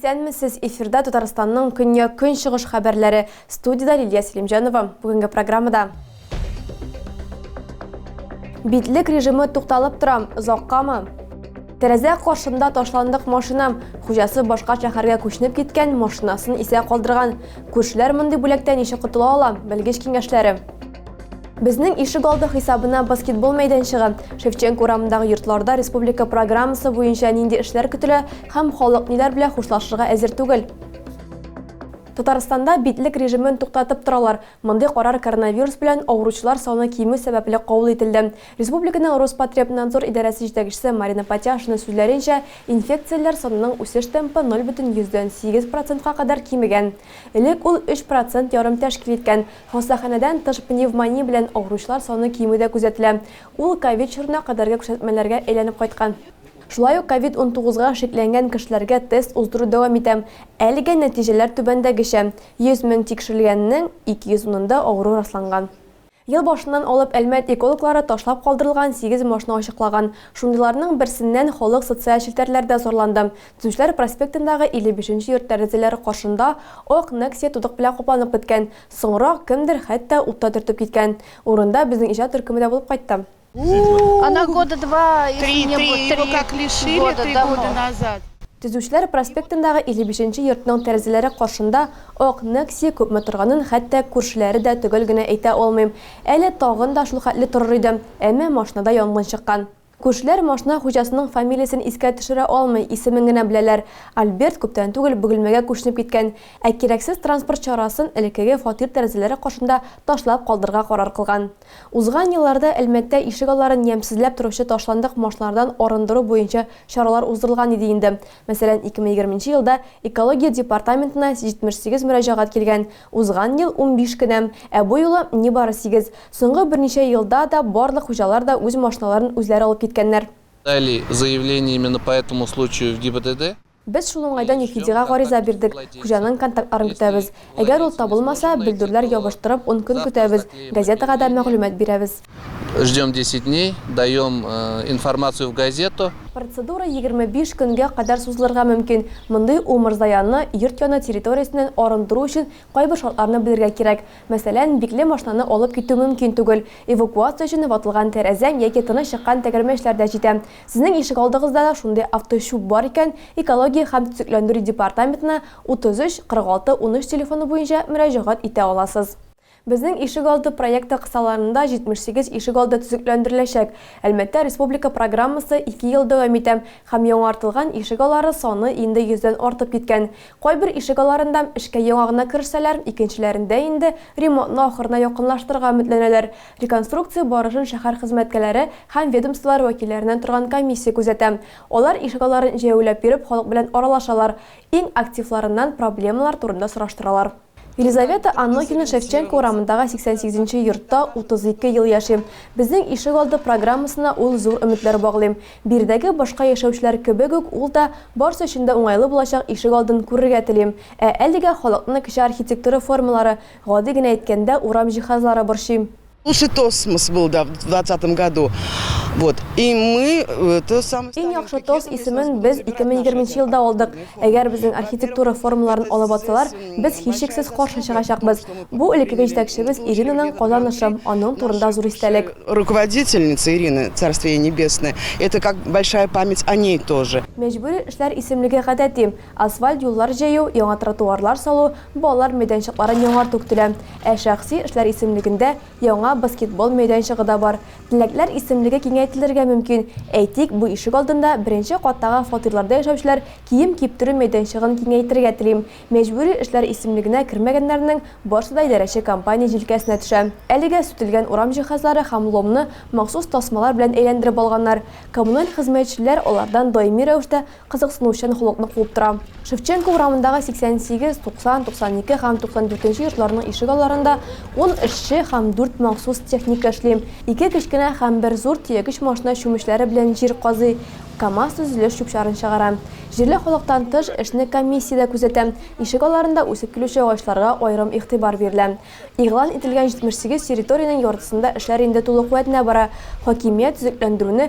Исәнмесез, эфирда Татарстанның көньяк-көнчыгыш хәбәрләре. Студиядә Лилия Селимҗанова. Бүгенге программада Битлек режимы тукталып торам, озаккамы? Тәрәзә каршында ташландык машинам, хуҗасы башка шәһәргә күченеп киткән, машинасын исә калдырган. Күршеләр мондый бүләктән ничек котыла ала? Белгеч киңәшләре. Безнең ишек алды хисабына баскетбол мәйданчыгы, Шевченко урамындагы йортларда республика программасы буенча нинди эшләр көтелә һәм халык ниләр белән хушлашырга әзер түгел? Татарстанда битлек режимын туктатып торалар, Мондый карар коронавирус белән авыручылар саны кимү сәбәпле кабул ителде. Республиканың Роспотребнадзор идарәсе җитәкчесе Марина Патяшина сүзләренчә, инфекцияләр санының үсеш темпы ноль бөтен йөздән сигез процентка кадәр кимегән. Элек ул өч процент ярым тәшкил иткән. Хастаханәдән тыш пневмония белән авыручылар саны кимү дә күзәтелә. Ул ковид чорына кадәрге күрсәтмәләргә әйләнеп кайткан. Шулай ук ковид унтугызга шикләнгән кешеләргә тест уздыру дәвам итә. Әлегә нәтиҗәләр түбәндәгечә. 100 мең тикшерелгәннең 200 унында авыру расланган. Ел башыннан алып Әлмәт экологлары ташлап калдырылган сигез машина ачыклаган. Шундыйларның берсеннән халык социаль челтәрләрдә зарланды. Төзүчеләр проспектындагы 55 нче йорт тәрәзәләре каршында ак Nexia тудык белән капланып беткән. Соңрак кемдер хәтта ут та төртеп киткән. Урында безнең иҗат төркеме дә булып кайтты. Она года два, если Три, не три, будет, его три как лишили года три тому. года назад. Төзүчеләр проспектындагы 55 нче йортның тәрәзәләре каршында ак Некси күпме торганын хәтта күршеләре дә төгәл генә әйтә алмый. Әле тагын да шул хәтле торыр иде, әмма машинада янгын чыккан. Күршеләр машина хуҗасының фамилиясен искә төшерә алмый, исемен генә беләләр. Альберт күптән түгел Бөгелмәгә күченеп киткән, ә кирәксез транспорт чарасын элеккеге фатир тәрәзәләре каршында ташлап калдырырга карар кылган. Узган елларда Әлмәттә ишегалларын ямьсезләп торучы ташландык машиналардан арындыру буенча чаралар уздырылган иде инде. Мәсәлән, 2020 елда Экология департаментына 78 мөрәҗәгать килгән, узган ел, унбиш кенә, ә бу юлы, нибары сигез. Соңгы берничә елда да барлык хуҗалар да үз машиналарын үзләре алып киткәннәр. Подали заявлениями на по этому случаю в ГИБДД. Без шул уңайдан ЮХИДИга гариза бирдек, хуҗаның контактларын көтәбез. Әгәр ул табылмаса, бөлдерләр ябыштырып, ун көн көтәбез, газетага да мәгълүмат бирәбез. Ждем десять дней, даем информацию в газету. Процедура егерме биш көнгә кадәр сузылырга мөмкин. Мондый умырзаянны йорт яны территориясеннән арындыру өчен кайбер шартларны белергә кирәк. Мәсәлән, бикле машинаны алып китү мөмкин түгел. Эвакуация өчен ватылган тәрәзәң яки тыныч чыккан тәгәрмәчләр дә җитә. Сезнең ишегалдыгызда да шундый авточүп бар икән, экология һәм төзекләндерү департаментына 33 46 13 телефоны буенча мөрәҗәгать итә аласыз. Безнең ишегалды проекты кысаларында 78 ишегалды төзекләндереләчәк. Әлмәттә республика программасы ике ел дәвам итә һәм яңартылган ишегалары саны инде йөздән артып киткән. Кайбер ишегаларында эшкә яңа гына керешсәләр, икенчеләрендә инде ремонтны ахырына якынлаштырырга өметләнәләр. Реконструкция барышын шәһәр хезмәткәләре һәм ведомстволар вәкилләреннән торган комиссия күзәтә. Алар ишегалларын җәяүләп йөреп халык белән аралашалар, иң активларыннан проблемалар турында сораштыралар. Елизавета Анохина Шевченко урамындагы 88 нче йортта 32 ел яши. Безнең ишегалды программасына ул зур өметләр баглый. Биредәге башка яшәүчеләр кебек үк ул да барсы өчен дә уңайлы булачак ишегалдын күрергә тели. Ә әлегә халыкны кече архитектура формалары, Гади генә әйткәндә, урам җиһазлары борчыйм. Лучший тосмос был да в двадцатом году. Вот. И мы то самое Иң яхшы тос исемен без ике мең егерменче елда алдык. Әгәр безнең архитектура форумларын алып атсалар, без һичшиксез каршы чыгачакбыз. Бу элеккеге җитәкчебез Иринаның казанышы, аның турында зур истәлек. Руководительница Ирина, царствие ей небесное, это как большая память о ней тоже. Мәҗбүри эшләр исемлеге гадәти, асфальт юллар җәю, яңа тротуарлар салу, Балалар мәйданчыкларын яңарту көтелә. Ә шәхси эшләр исемлегендә яңа баскетбол мәйданчыгы да бар. Теләкләр исемлеге киңәйтелергә мөмкин. Әйтик, бу ишек алдында беренче каттагы фатирларда яшәүчеләр кием киптерү мәйданчыгын киңәйтергә тели. Мәҗбүри эшләр исемлегенә кермәгәннәрнең барсы да идарәче компания җилкәсенә төшә. Әлегә сүтелгән урам җиһазлары һәм ломны махсус тасмалар белән әйләндереп алганнар. Коммуналь хезмәтчеләр алардан даими рәвештә кызыксыну чын холыкны куып тора. Шевченко урамындагы 88, 90, 92 һәм 94 нче йортларның ишек алларында ун эшче һәм дүрт махсус техника эшли. Ике кечкенә һәм бер зур төягеч машина чүмечләре белән җир казый, КАМАЗ төзелеш чүп-чарын чыгара. Җирле халыктан тыш, эшне комиссия дә күзәтә. Ишек алларында үсеп килүче агачларга аерым игътибар бирелә. Игълан ителгән 78 территориянең яртысында эшләр инде тулы куәтенә бара, хакимият төзекләндерүне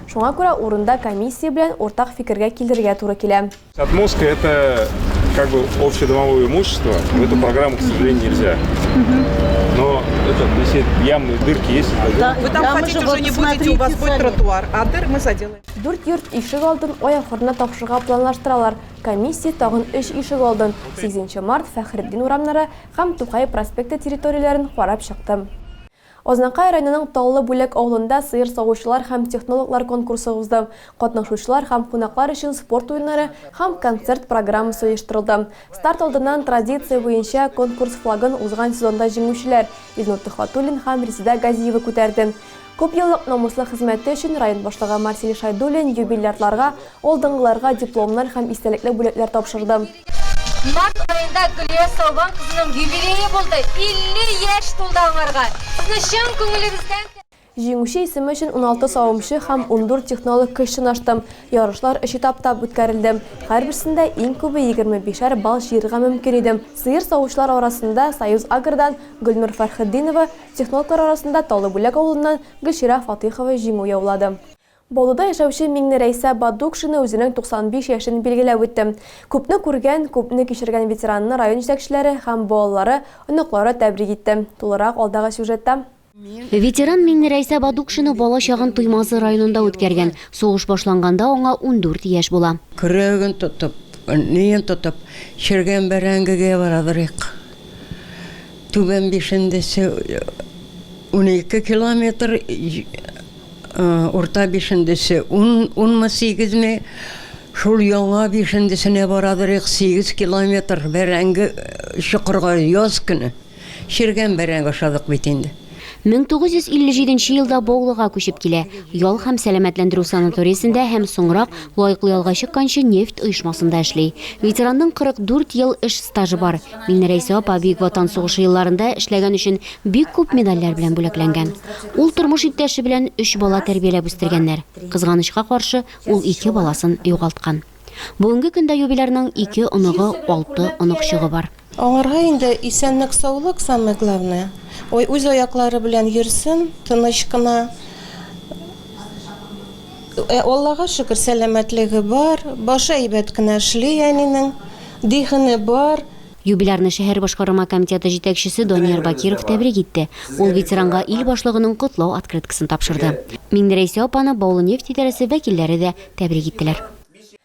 Шуңа күрә урында комиссия белән уртак фикергә килергә туры килә. Отмостка это как бы общедомовое имущество, в эту программу, к сожалению, нельзя. Но это, если ямы, дырки есть, это Да, Вы там Там ходить уже уже вот не будете, у вас смотрите будет сами. тротуар, а дыр мы заделаем. Дүрт йорт ишек алдын ай ахырына тапшырга планлаштыралар. Комиссия тагын өч ишек алдын, Сигезенче март, Фәхретдин урамнары һәм Тукай проспекты территорияләрен карап чыкты. Азнакай районының Таллы Бүләк авылында сыер савучылар һәм технологлар конкурсы узды. Катнашучылар һәм кунаклар өчен спорт уеннары һәм концерт программасы оештырылды. Старт алдыннан традиция буенча конкурс флагын узган сезонда җиңүчеләр Илнур Төхвәтуллин һәм Резеда Газиева күтәрде. Күпьеллык намуслы хезмәте өчен район башлыгы Марсель Шайдуллин юбилярларга, алдынгыларга дипломнар һәм истәлекле бүләкләр тапшырды. Март аенда Гөлия Салван кызының юбилее булды, 50 яшь тулды аңарга. Сезне чын күңелебездән Җиңүче исеме өчен уналты савымчы һәм ундүрт технолог көч сынашты. Ярышлар өч этаптап үткәрелде. Һәрберсендә иң күбе егерме бишәр балл җыярга мөмкин иде. Сыер савучылар арасында Союзагрдан Гөлнур Фәрхетдинова, технологлар арасында Таллыбүләк авылыннан Гөлчирә Фатыйхова җиңү яулады. Баулыда яшәүче Миңне Рәйсә Бадукшина үзенең 95 яшен билгеләп үтте. Күпне күргән, күпне кичергән ветеранны район җитәкчеләре һәм балалары, оныклары тәбрик итте. Тулырак алдагы сюжетта. Ветеран Миңне Рәйсә Бадукшина бала чагын Туймазы районында үткәргән. Сугыш башланганда аңа ундүрт яшь була. Көрәген тотып, ниен тотып, черегән бәрәңгегә барадырыйк. Түбән Бишендәсе унике километр, Урта бишендесе ун, унмы, сигезме, шул яңа бишендесенә барадырыйк, сигез километр бәрәңге чокырга яз көне. Чиргән бәрәңге ашадык бит инде. 1957 елда Баулыга күчеп килә. Ял һәм сәламәтләндерү санаториясендә һәм соңрак, лаеклы ялга чыкканчы, нефть оешмасында эшли. Ветеранның 44 ел эш стажы бар. Мине Рәйсә апа Бөек Ватан сугышы елларында эшләгән өчен бик күп медальләр белән бүләкләнгән. Ул тормыш иптәше белән өч бала тәрбияләп үстергәннәр. Кызганычка каршы, ул ике баласын югалткан. Бүгенге көндә юбилярның ике оныгы, алты оныкчыгы бар. Аңарга инде исәнлек-саулык самое главное. Ой, үз аяклары белән йөрсен, тыныч кына. Ә Аллага шөкер, сәламәтлеге бар, башы әйбәт кенә эшли әнинең, дихене бар. Юбилярны шәһәр башкарма комитеты җитәкчесе Данияр Бакиров тәбрик итте. Ул ветеранга ил башлыгының котлау открыткасын тапшырды. Миңнерәйсә апаны Баулы нефть идарәсе вәкилләре дә тәбрик иттеләр.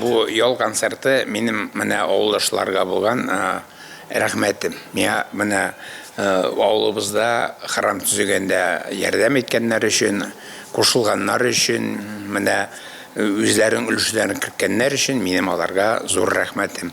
Бу ял концерты минем менә авылдашларга булган рәхмәтем. Миңа менә авылыбызда храм төзегәндә ярдәм иткәннәр өчен, кушылганнар өчен, менә үзләренең өлешләрен керткәннәр өчен минем аларга зур рәхмәтем.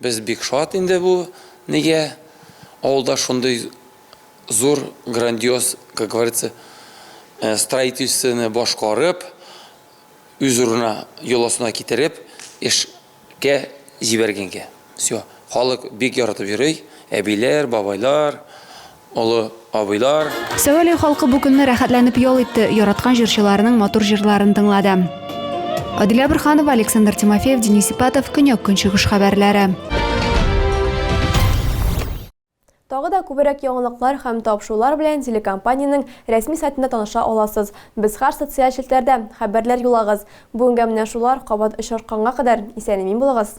Без бик шат инде бу нигә авылда шундый зур грандиоз, как говорится, строительствоны башкарып, үз урынына, йоласына китереп эшкә җибәргәнгә. Всё. Халык бик яратып йөри, әбиләр, бабайлар. Олы абыйлар. Сәвәләй халкы бу көнне рәхәтләнеп ял итте, яраткан җырчыларының матур җырларын тыңлады. Адилә Борханова, Александр Тимофеев, Денис Ипатов, Көньяк-Көнчыгыш хәбәрләре. Тагы да күберәк яңалыклар һәм тапшырулар белән телекомпаниянең рәсми сайтында таныша аласыз. Без хәр социаль челтәрдә, хәбәрләр юлагыз. Бүгенгә менә шулар, кабат очрашканга кадәр, исән-имин булыгыз!